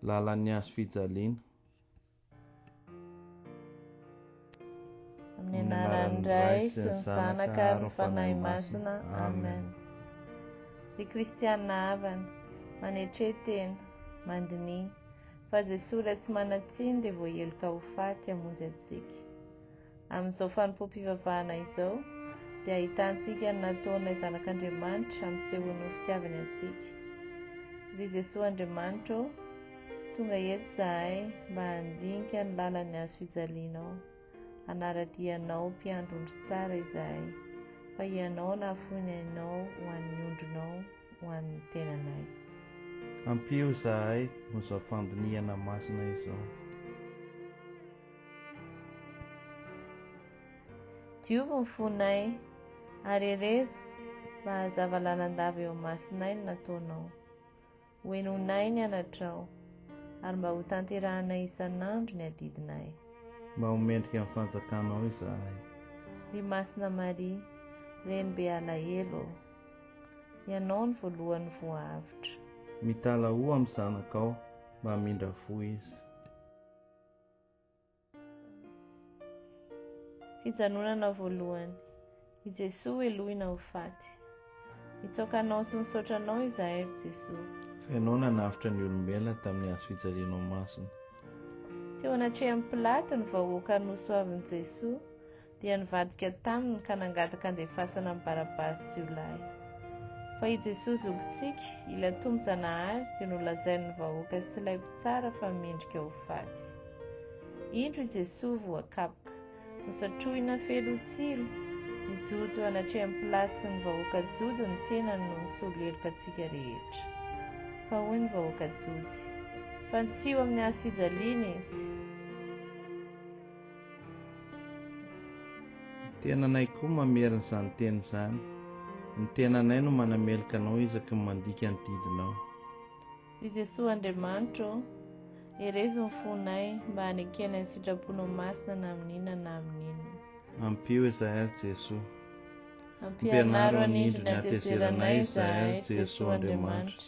Lalan'ny hazo fijaliana. Amin'ny anaran'ny Ray sy ny Zanaka ary ny Fanahy Masina. Amen. Ry Kristianina havana, manetre tena, mandiniha, fa Jesoa Ilay tsy manan-tsiny dia voaheloka ho faty hamonjy antsika. Amin'izao fanompoam-pivavahana izao, dia ahitantsika ny nataon'ilay Zanak'Andriamanitra hampisehoany ho fitiavany antsika. Ry Jesoa Andriamanitra ô, tonga eto izahay mba handinika ny lalan'ny hazo fijalianao, hanara-dia Anao Mpiandry ondry tsara izahay, fa Ianao nahafoy ny ainao ho an'ny ondrinao, ho an'ny tenanay. Ampio izahay amin'izao fandinihana masina izao. Diovy ny fonay, ary herezo mba hahazava lalandava eo imasonay ny nataonao. Hohenoinay ny anatrao, ary mba hotanterahanay isan'andro ny adidinay. Mba ho mendrika ny fanjakanao izahay. Ry Masina Maria, Renibe alahelo ô. Ianao no voalohany voahavotra. Mitalahoa amin'ny Zanakao mba hamindra fo izy. Fijanonana voalohany. I Jesoa helohina ho faty. Mitsaoka Anao sy misaotra Anao izahay, ry Jesoa. Fa Ianao nanavotra ny olombelona tamin'ny hazo fijalianao masina. Teo anatrehan'i Pilato ny vahoaka nosoavin'i Jesoa. dia nivadika taminy ka nangataka andefasana ny Barabasy jiolahy. Fa i Jesoa zokintsika, ilay Tompo Zanahary dia nolazain'ny vahoaka sy ilay mpitsara fa mendrika ho faty. Indro i Jesoa voakapoka, nosatrohina feloha tsilo, nijoro teo anatrehan'i Pilato sy ny vahoaka jody ny tenany no nisolo heloka antsika rehetra. Fa hoy ny vahoaka jody, Fantsiho amin'ny hazo fijaliana Izy! Tenanay koa mamerina izany teny izany. Ny tenanay no manameloka anao isaky ny mandika ny didinao. Ry Jesoa Andriamanitro ô, herezo ny fonay mba hanekena ny sitraponao masina na amin'inona na amin'inona. Ampio izahay ry Jesoa. Ampianaro hanindry ny hatezeranay izahay ry Jesoa Andriamanitra.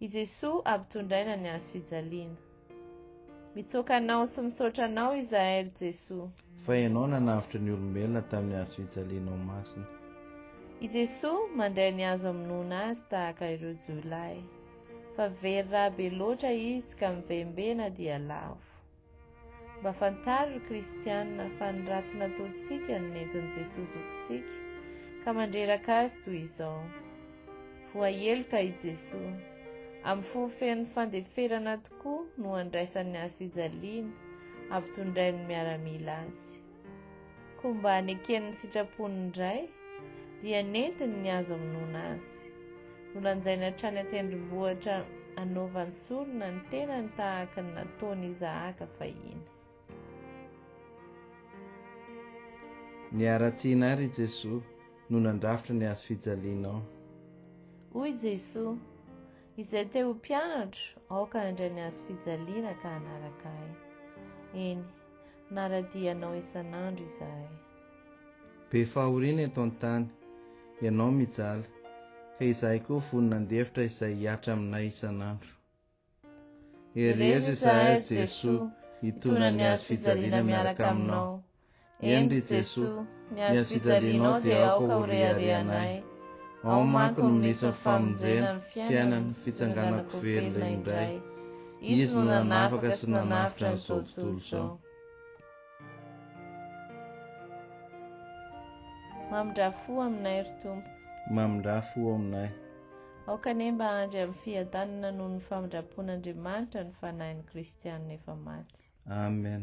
I Jesoa ampitondraina ny hazo fijaliana. Mitsoaka Anao sy misaotra Anao izahay ry Jesoa. Fa Ianao nanavotra ny olombelona tamin'ny hazo fijalianao masina. I Jesoa mandray ny hazo amonoana Azy tahaka ireo jiolahy. Fa very rà be loatra Izy ka mivembena dia lavo. Mba fantaro ry kristiana fa ny ratsy nataontsika no nentin'i Jesoa zokintsika ka mandreraka Azy toy izao. Voaheloka i Jesoa. Amin'ny fo feno fandeferana tokoa no andraisany hazo fijaliana ampitondrain'ny miaramila Azy. koa mba nekeny ny sitrapon'ny Ray, dia nentiny ny azo amonoana Azy. Nolanjainy hatrany an-tendrombohitra hanaovany sorona ny tenany tahaka ny nataon'i Isahaka fahiny. Niharatsiana àry i Jesoa no nandrafitra ny hazo fijalianao. Hoy Jesoa, Izay te ho mpianatro, aoka handray ny hazo fijaliana ka hanaraka Ahy. Eny, Naradia anao isan'andro izahay. Be fahoriana eto an-tany, ianao mijaly, ka izahay koa vonona handefitra izay hihatra aminay isan'andro. Herezo izahay, ry Jesoa, hitondra ny hazo fijaliana miaraka aminao. Eny, ry Jesoa, ny hazo fijalianao dia aoka ho rehareha anay. Ao manko no misy ny famonjena, ny fiainana, ny fitsanganako velona indray. Izy no nanafaka sy nanavotra an'izao tontolo izao. Mamindrà fo aminay, ry Tompo. Mamindrà fo aminay. Aoka anie mba handry amin'ny fiadanana noho ny famindram-pon'Andriamanitra ny fanahin'ny kristianina efa maty. Amen.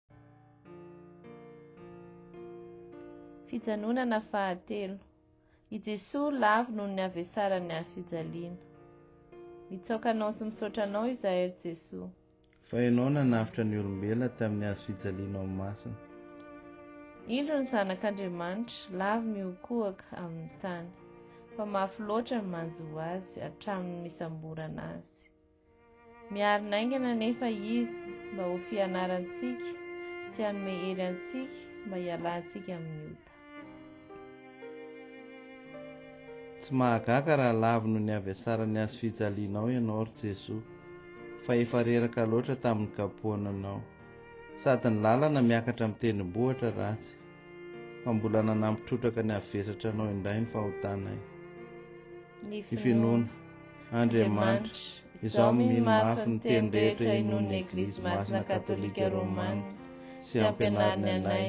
Fijanonana fahatelo. I Jesoa lavo noho ny havesaran'ny hazo fijaliana. Mitsaoka Anao sy misaotra Anao izahay, ry Jesoa. Fa Ianao nanavotra ny olombelona tamin'ny hazo fijaliana ao masina. Indro ny Zanak' Andriamanitra, lavo mihokohoka amin'ny tany, fa mafy loatra ny manjo Azy hatramin'ny nisamborana Azy. Miarina haingana anefa Izy mba ho fianarantsika sy hanome hery antsika mba hialantsika amin'ny ota. Tsy mahagaga raha lavino ny avy hasaran'ny hazo fijalianao ianao, ry Jesoa, fa efa reraka loatra tamin'ny kapoananao. Sady ny lalana miakatra amin'ny tendrombohitra ratsy, fa mbola nanampy trotraka ny avy vesatra anao indray ny fahotanay. Ny finoana. Andriamanitra, izaho mino mafy ny teny rehetra inoan'ny Eglizy Masina Katolika Romana sy ampianariny anay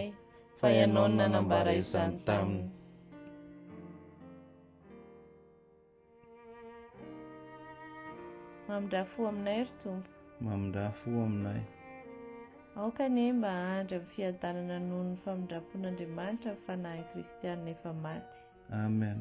fa Ianao no nanambara izany taminy. Mamindrà fo aminay, ry Tompo. Mamindrà fo aminay. Aoka anie mba hahandry amin'ny fiadanana noho ny famindram-pon'Andriamanitra ny fanahin'ny kristiana efa maty. Amen.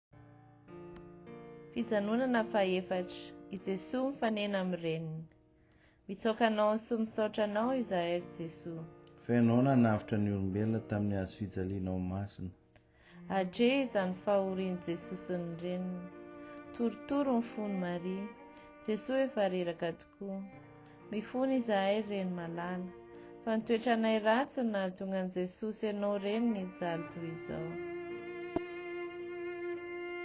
Fijanonana fahefatra, i Jesoa mifanena amin'ny Reniny. Mitsaoka Anao sy misaotra Anao izahay ry Jesoa. Fa Ianao nanavotra ny olombelona tamin'ny hazo fijalianao masina. Adre izany fahorian'i Jesoa sy ny Reniny. Torotoro ny fon'i Maria. Jesoa efa reraka tokoa. Mifona izahay ry reny malala. Fa ny toetranay ratsy no nahatonga an'i Jesosy anao reny nijaly toy izao.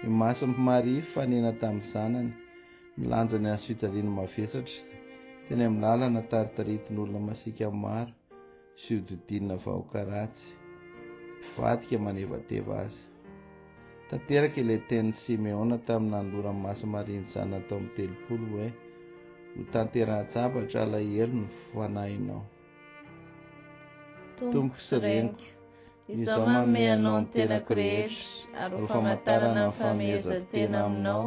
Ny mason'i Maria hifanena tamin'ny zanany, milanja ny hazofijaliana mavesatra, teny amin'ny lalana taritaritin'olona masiaka maro, Tsy hodidinina vahoaka ratsy, mpivadika manevateva aza. Tanteraka ilay tenin'i Simeona tamin'ny nanoloran'i Masy Maria ny zanany tao amin'ny telopolo hoe, Hotanterahan-tsabatra alahelo ny fanahinao. Tompoko sy Reniko, izaho manome anao ny tenako rehetra ary ho famantarana ny fahamehezan-tena aminao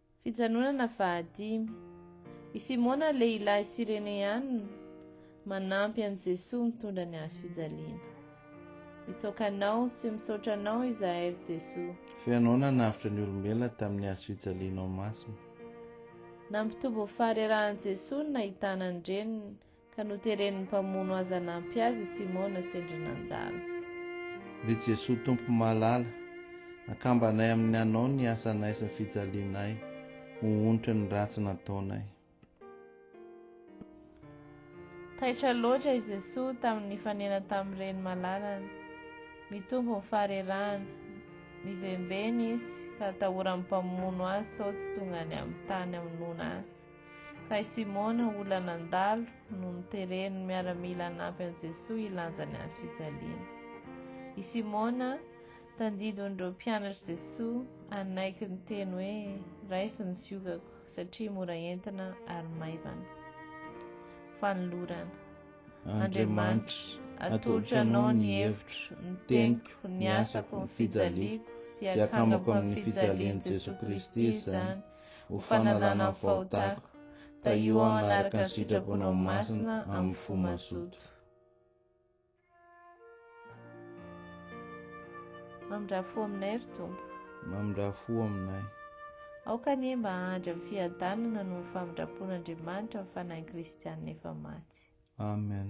Fijanonana fahadimy. I Simona lehilahy Sireneana manampy an'i Jesoa mitondra ny hazo fijaliana. Mitsaoka Anao sy misaotra Anao izahay ry Jesoa. F'ianao nanavotra ny olombelona tamin'ny hazo fijalianao masina. Nampitobo ny faharerahan'i Jesoa ny nahitana ny reniny. Ka noteren'ny mpamono azy hanampy azy i Simona sendra nandalo. Ry Jesoa Tompo malala, akambanay amin'ny Anao ny asanay sy ny fijalianay ho onitra ny ratsy nataonay. Taitra loatra i Jesoa tamin'ny nifanena tamin'ny Reny malalany. Mitombo ny faharerahany. Mivembena Izy ka atahoran'ny mpamono azy sao tsy tonga any amin'ny tany hamonoana azy. Kay Simona olona nandalo no noteren'ny miaramila hanampy an'i Jesoa hilanja ny hazo fijaliana. I Simona, tandidon'ireo mpianatr'i Jesoa, hanaiky ny teny hoe raiso ny ziogako satria mora entina ary maivana. Fanolorana. Andriamanitra, atolotro Anao ny hevitro, ny teniko, ny asako, ny fijaliako, dia akamako amin'ny fijalian'i Jesoa Kristy izany, ho fanalana ny fahotako, tahio aho hanaraka ny sitraponao masina amin'ny fo mazoto. Mamindrà fo aminay, ry Tompo. Mamindrà fo aminay. Aoka anie mba hahandry amin'ny fiadanana noho ny famindram-pon'Andriamanitra ny fanahin'ny kristianina efa maty. Amen.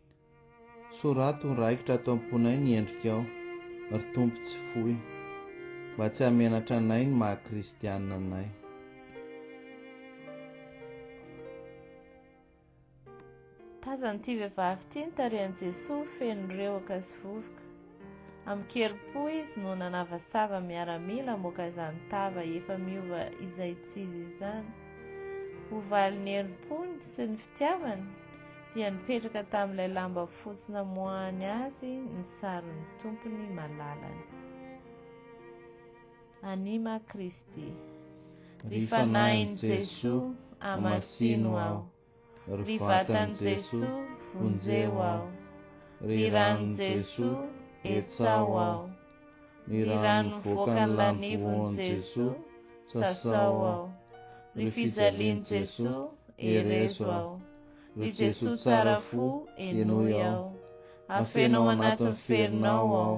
Soraty ho raikitra ato am-ponay ny endrikao, ry Tompo tsy foy, mba tsy hahamenatra anay ny maha kristiana anay. Tazan'ity vehivavy ity ny tarehin'i Jesoa feno rewaka sy vovoka. Amin-kerim-po izy no nanavasava miaramila hamoaka izany tava efa miova izaitsizy izany. Ho valin'ny herim-pony sy ny fitiavany dia nipetraka tamin'ilay lamba fotsy namoahany azy ny sarin'ny Tompony malalany. Anima Christi. Ry Fanahin'i Jesoa, amasino aho. Ry vatan'i Jesoa, vonjeo aho. Ry ranon'i Jesoa, hetsaho aho. Ry rano mivoaka ny lanivon'i Jesoa, sasao aho. Ry fijalian'i Jesoa, herezo aho. Ry Jesoa tsara fo, henoy aho. Afeno ao anatin'ny ferinao aho.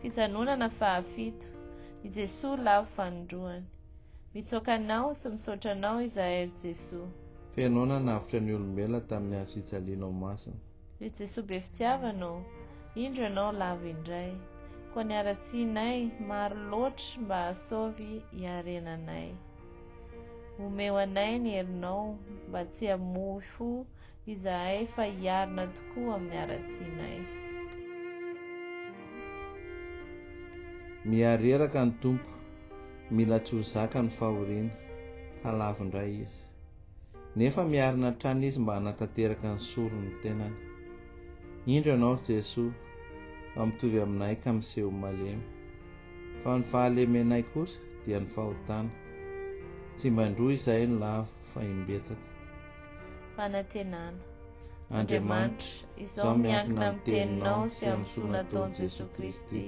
Fijanonana fahafito, i Jesoa lavo fanindroany. Mitsoaka Anao sy misaotra Anao izahay ry Jesoa. Fenao nanavotra ny olombelona tamin'ny hazo fijalianao masina. Ry Jesoa be fitiavana ô, indro Ianao lavo indray. Koa ny haratsianay maro loatra mba hahasaovy hiarenanay. Omeo anay ny herinao mba tsy hamoy fo Izahay fa hiarina tokoa amin'ny haratsianay. Miha reraka ny Tompo, mila tsy ho zaka ny fahoriana, halavo indray Izy. Nefa miarina hatrany Izy mba hanatanteraka ny soron'ny tenany. Indro Ianao ry Jesoa, fa mitovy aminay ka miseho malemy. Fa ny fahalemenay kosa dia ny fahotana. Tsy mba indroa izahay no lavo, fa imbetsaka. fanantenana. Andriamanitra, izaho miankina amin'ny Teninao sy amin'ny soa nataon'i Jesoa Kristy,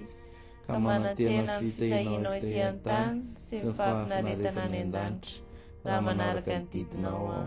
ka manantena ny fitahianao ety an-tany sy ny fahafinaretana any an-danitra, raha manaraka ny didinao aho.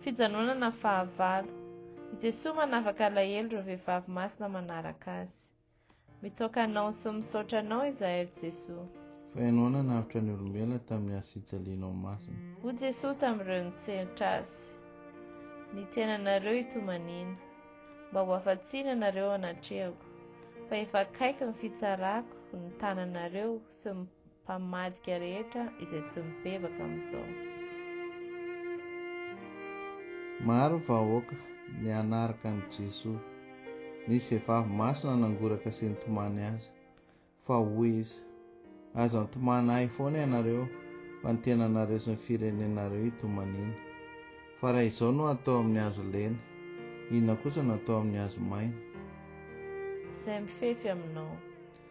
Fijanonana fahavalo. I Jesoa manavaka alahelo ireo vehivavy masina manaraka Azy. Mitsaoka Anao sy misaotra Anao izahay, ry Jesoa. Fa Ianao nanavotra ny olombelona tamin'ny hasijalianao masina. Hoy Jesoa tamin'ireo nitsenitra Azy, Ny tenanareo hitomaniana, mba ho afa-tsiny ianareo anatrehako, fa efa akaiky ny fitsarako, ny tananareo sy ny. Mpamadika rehetra izay tsy mibebaka amin'izao. Maro ny vahoaka ny hanaraka an'i Jesoa. Ny vehivavy masina nangoraka sy nitomany Azy. Fa hoy Izy, Aza mitomany Ahy foana ianareo, fa ny tenanareo sy ny firenenareo itomaniana. Fa raha izao no atao amin'ny hazo lena, inona kosa no atao amin'ny hazo maina? Izay mifefy aminao.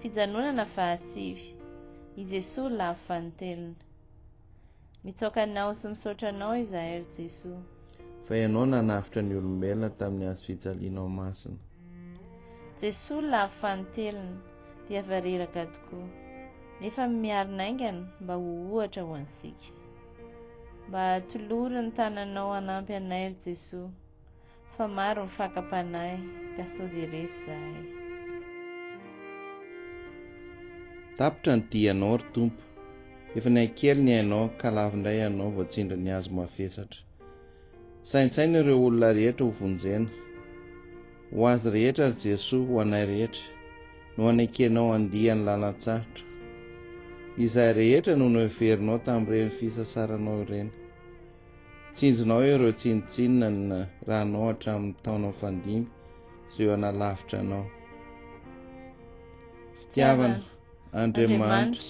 Fijanonana fahasivy, i Jesoa lavo vanintelona. Mitsaoka Anao sy misaotra Anao izahay ry Jesoa. Fa Ianao nanavotra ny olombelona tamin'ny hazo fijalianao masina. Jesoa lavo vanintelona, dia vareraka tokoa, nefa miaro naingana mba ho ohatra ho antsika. Mba tolory ny tananao hanampy anay ry Jesoa. Fa maro ny fakam-panahy ka sao dia resy zahay. Tapitra ny dianao ry Tompo. Efa nihaikely ny ainao ka lavo indray ianao vao tsindry ny hazo mavesatra. Saintsaino ireo olona rehetra ho vonjena. Ho azy rehetra ry Jesoa, ho anay rehetra, no hanekenao handia ny lalan-tsarotra. Izahay rehetra no noheverinao tamin'ireny fisasaranao ireny. Tsinjonao ireo tsinontsinona ny ranao hatramin'ny taona fandimby sy eo hanalavitra anao. Fitiavana, Andriamanitra,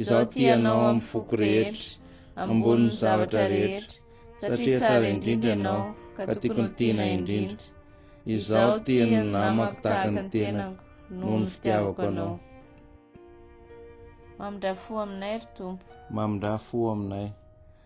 izaho tia Anao amin'ny foko rehetra, ambonin'ny zavatra rehetra, satria tsara indrindra Ianao ka tiako ny tianay indrindra. Izaho tia ny namako tahaka ny tenako noho ny fitiavako Anao. Mamindrà fo aminay, ry Tompo. Mamindrà fo aminay.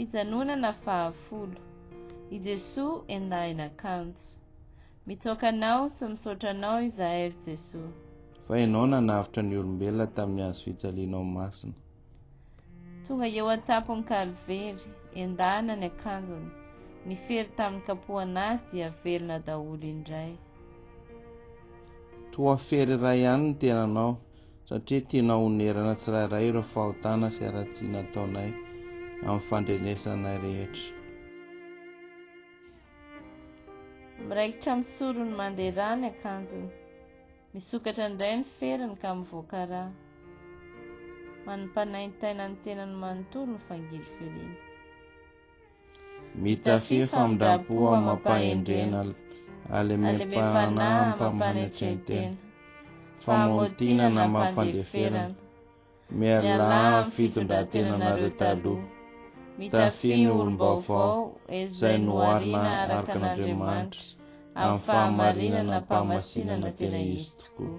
Fijanonana fahafolo. I Jesoa endahina kanjo. Mitsaoka Anao sy misaotra Anao izahay ry Jesoa. Fa Ianao nanavotra ny olombelona tamin'ny hazo fijalianao masina. Tonga eo an-tampon'ny Kalvery, endahina ny akanjony, ny fery tamin'ny kapohana Azy dia velona daholo indray. Toa fery iray ihany ny tenanao. satria tianao honerana tsirairay ireo fahotana sy haratsiana ataonay amin'ny fandrenesanay rehetra. Miraikitra amin'ny sorony mandeha rà ny akanjony, misokatra indray ny feriny ka mivoaka rà. Manimpanaintaina ny tenany manontolo ny fangiliviriny. Mitafia famindram-po amam-pahendrena, alemem-panahy amam-panetren-tena, famotinana amam-pandeferana. Mialà amin'ny fitondran-tenanareo taloha. Mitafia ny olom-baovao izay noharina araka an'Andriamanitra amin'ny fahamarinana am-pamasinana tena izy tokoa.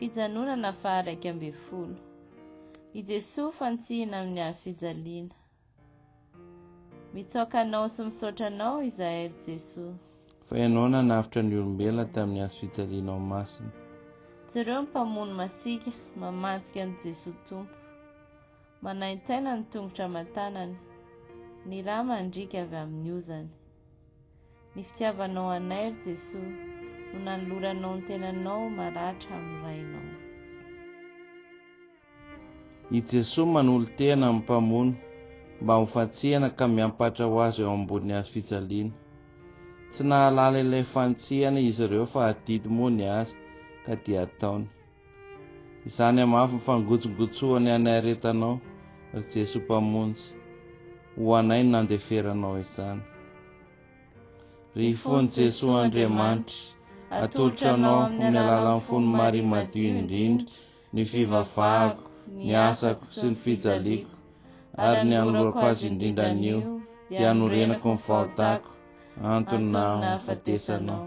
Fijanonana faha iraika ambin'ny folo. I Jesoa fantsihina amin'ny hazo fijaliana. Mitsaoka Anao sy misaotra Anao izahay, ry Jesoa. Fa Ianao nanavotra ny olombelona tamin'ny hazo fijalianao masina. Jereo ny mpamono masiaka mamantsika an'i Jesoa Tompo. Manaintaina ny tongotra aman-tanany, ny rà mandriaka avy amin'ny ozany. Ny fitiavanao anay ry Jesoa no nanoloranao ny tenanao maratra amin'ny Rainao. I Jesoa manolo-tena amin'ny Mpamonjy mba ho fantsihana ka miampatra ho Azy eo ambonin'ny Hazo fijaliana. Tsy nahalala ilay fantsihana izy ireo fa adidy moa ny Azy ka dia ataony. Izany hamafy ny fangotsongotsoany anay aretanao, ry Jesoa Mpamonjy, ho anay ny nandeferanao izany. Ry Ifon'i Jesoa Andriamanitra, atolotro anao amin'ny alalan'ny fon'i Maria Madio indrindra ny fivavahako, ny asako sy ny fijaliako, ary ny anoloako azy indrindra anio dia anorenako ny fahotako, antony nahafatesanao.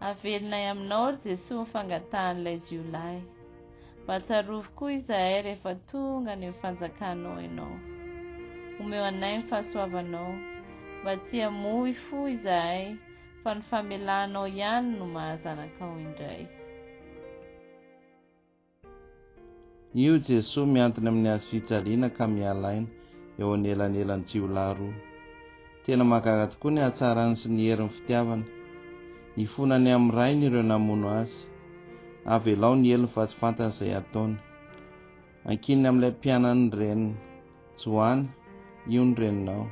Havelinay aminao ry Jesoa ny fangatahan'ilay jiolahy. Mba tsarovy koa izahay rehefa tonga any amin'ny fanjakanao ianao. Omeo anay ny fahasoavanao, mba tsy hamoy fo izahay fa ny famelanao ihany no maha zanakao indray. Io Jesoa mihantona amin'ny hazo fijaliana ka miala aina eo anelanelan'ny jiolahy roa. Tena mahagaga tokoa ny hatsarany sy ny herin'ny fitiavana. Ifonany amin'ny Rainy ireo namono Azy. Avelao ny helony fa tsy fantany izay hataony. Ankininy amin'ilay mpianany ny reniny. Joany, io ny reninao.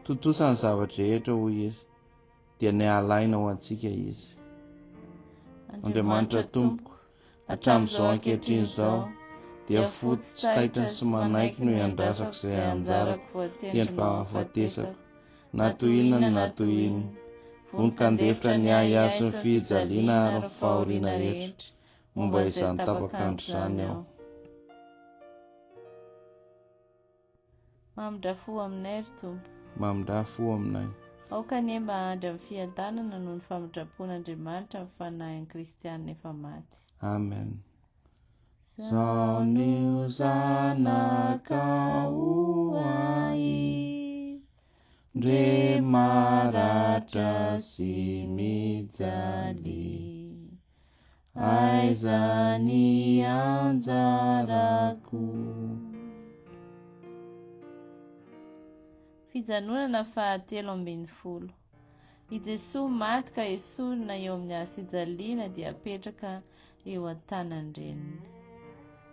Tontosa ny zava-drehetra, hoy Izy, dia niala aina ho antsika Izy. Andriamanitra tompoko. Hatramin'izao ankehitriny izao dia fotsy tsy taitra sy manaiky no iandrasako izay anjarako voatendry mba hahafatesako. Na toy inona ny natohiny, vonon-kandefitra ny ahy ahy sy ny fijaliana ary ny fahoriana rehetra momba izany tapakandro izany aho. Mamindrà fo aminay, ry Tompo. Mamindrà fo aminay. Aoka anie mba hahandry amin'ny fiadanana noho ny famindram-pon'Andriamanitra ny fanahin'ny kristiana efa maty. Amen. Zao ny ho zanakao ahy, ndre maratra sy mijaly, aiza ny anjarako Fijanonana fahatelo ambin'ny folo I Jesoa maty ka esorina eo amin'ny hazofijaliana dia apetraka eo an-tanan-dReniny.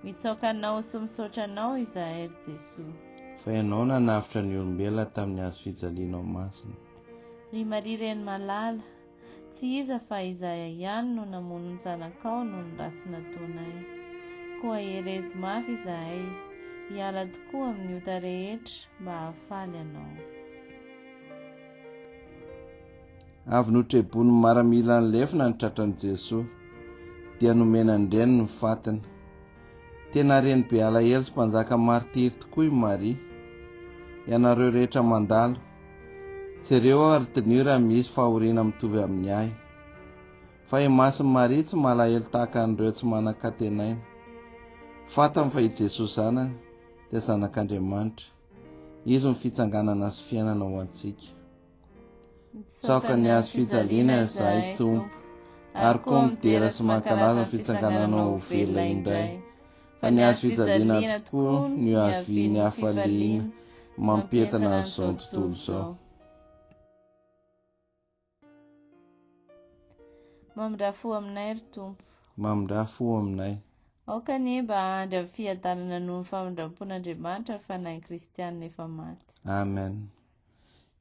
Mitsaoka Anao sy misaotra Anao izahay ry Jesoa. Fa Ianao nanavotra ny olombelona tamin'ny hazofijalianao masina. Ry Maria Reny malala, Tsy iza fa Izahay ihany no namono ny zanakao noho ny ratsy nataonay. Koa herez mafy Izahay, hiala tokoa amin'ny ota rehetra mba hahafaly anao. Avy notrebon'ny maramila ny lefona ny tratran'i Jesoa, dia nomena ny reniny ny fatiny. Tena reny be alahelo sy mpanjaka martiry tokoa i Maria. Ianareo rehetra mandalo, Jereo aho ry Dnio raha misy fahoriana mitovy amin'ny ahy. Fa i Masin'i Maria tsy malahelo tahaka an'ireo tsy manan-katenaina. Fantany fa i Jesoa Zanany dia Zanak'Andriamanitra. Izy no fitsanganana sy fiainana ho antsika. Mitsaoka ny hazo fijaliana izahay, Tompo, ary koa midera sy mankalaza ny fitsangananao ho velona indray. fa ny hazo fijaliana tokoa no ihavian'ny hafaliana mampientana an'izao tontolo izao mamindrafo aminay ry tompo mamindrafo aminay aoka anie mba handry amin'ny fiadanana noho ny famindram-pon'andriamanitra ny fanahin'ny kristianina efa maty amen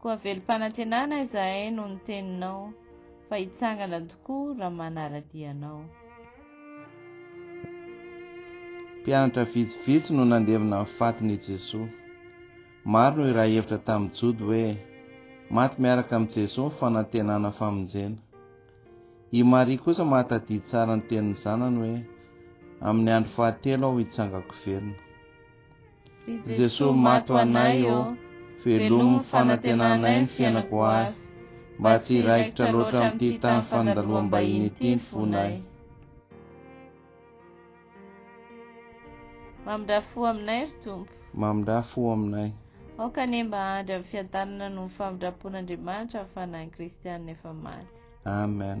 Koa velom-panantenana izahay noho ny teninao, fa hitsangana tokoa raha manara-dia anao. Mpianatra vitsivitsy no nandevina ny fatin' i Jesoa. Maro no iray hevitra tamin'ny Jody hoe maty miaraka amin'i Jesoa ny fanantenana famonjena. I Maria kosa mahatadidy tsara ny tenin'ny Zanany hoe, Amin'ny andro fahatelo aho hitsangako velona. Jesoa maty ho anay ô, velomy fanantenanay ny fiainako ho avy, mba tsy hiraikitra loatra amin'ity tany fandaloham-bahiny ity ny fonay. Mamindrà fo aminay, ry Tompo. Mamindrà fo aminay. Aoka anie mba hahandry amin'ny fiadanana noho ny famindram-pon'Andriamanitra ny fanahin'ny Kristianina efa maty. Amen.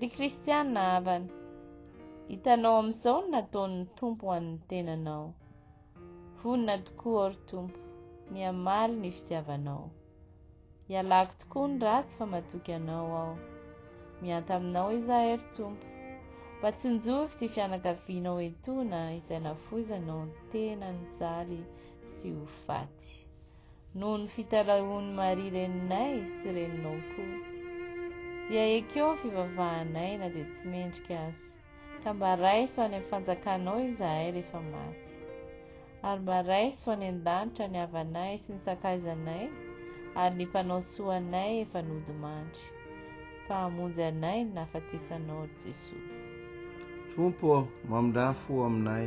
Ry Kristiana havana, hitanao amin'izao ny nataon'ny Tompo ho an'ny tenanao. Vonona tokoa aho, ry Tompo, ny hamaly ny fitiavanao. Ialako tokoa ny ratsy fa matoky anao aho. Mihanta aminao izahay, ry Tompo, mba tsinjovy ity fianakavianao etoana izay nafoizanao tena nijaly sy ho faty. noho ny fitalahoan'i Maria reninay sy reninao koa. Dia ekeo ny fivavahanay na dia tsy mendrika aza, ka mba raiso any amin'ny fanjakanao izahay rehefa maty. Ary mba raiso any an-danitra ny havanay sy ny sakaizanay ary ny mpanao soa anay efa nodimandry, fa hamonjy anay ny nahafatesanao, ry Jesoa. Tompo ô, mamindrà fo aminay,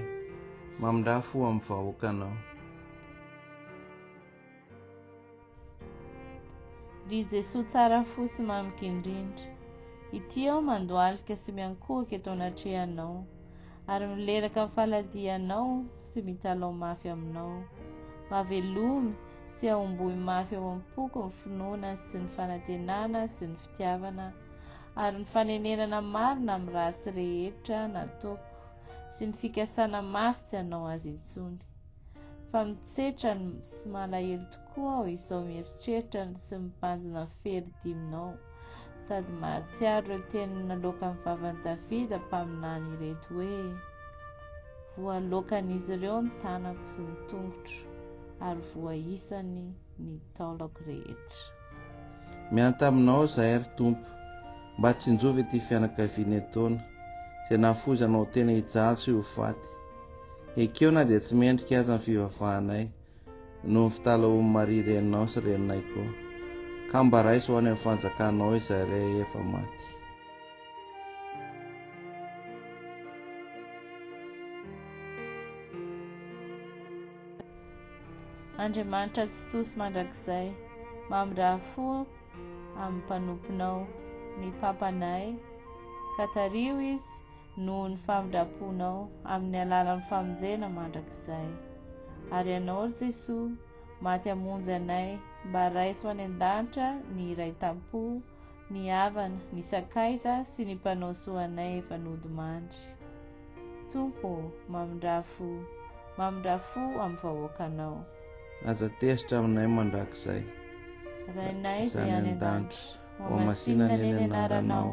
mamindrà fo amin'ny vahoakanao. Ry Jesoa tsara fo sy mamy gindrindra, ity aho mandohalika sy miankohoka eto anatrehanao, ary mileraka amin'ny faladianao sy mitalaho mafy aminao. Mba velomy sy ahomboy mafy ao am-poko ny finoana sy ny fanantenana sy ny fitiavana, ary ny fanenenana marina amin'ny ratsy rehetra nataoko sy ny fikasana mafy tsy hanao azy intsony. fa mitsetra sy malahelo tokoa aho izao mieritreritra ny sy mibanjina ny fery diminao sady mahatsiaro ireo teny naloaka amin'ny vavan'i Davida mpaminany ireto hoe voalokan'izy ireo ny tanako sy ny tongotro ary voaisany ny taolako rehetra. Miantà aminao izahay ry Tompo, mba tsinjovy ity fianakaviana etoana, izay nahafoizana ho tena hijaly sy ho faty. Ekeo na dia tsy mendrika aza ny fivavahanay, noho ny fitalahoan'i Maria reninao sy reninay koa, ka mba raiso ho any amin'ny fanjakanao izay rehefa maty. Andriamanitra Tsitoha sy Mandrakizay, mamindraha fo amin'ny mpanomponao ny papanay, ka tario izy noho ny famindram-ponao amin'ny alalan'ny famonjena mandrakizay. Ary Ianao, ry Jesoa, maty hamonjy anay, mba raiso any an-danitra ny iraitampo, ny havana, ny sakaiza sy ny mpanao soa anay efa nodimandry. Tompo ô, mamindrà fo, mamindrà fo amin'ny vahoakanao. Aza tezitra aminay mandrakizay. Rainay izay any an-danitra, hohamasinina anie ny anaranao,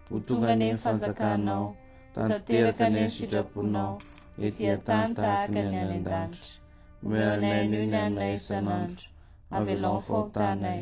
ho tonga anie ny fanjakanao, ho tanteraka anie ny sitraponao ety an-tany tahaka ny any an-danitra. Omeo anay anio ny haninay isan'andro, avelao ny fahotanay.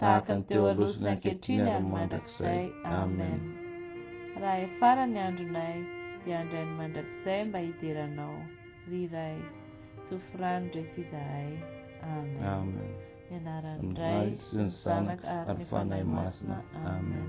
tahaka ny teo aloha sy ny ankehitriny ary ny mandrakizay. Amen. Raha efara ny andronay, hiandry an'i mandrakizay mba hidera anao, ry Ray. Tsofy rano reto izahay. Amen. Amen. Ny anaran'ny Ray sy ny Zanaka ary ny Fanahy Masina. Amen.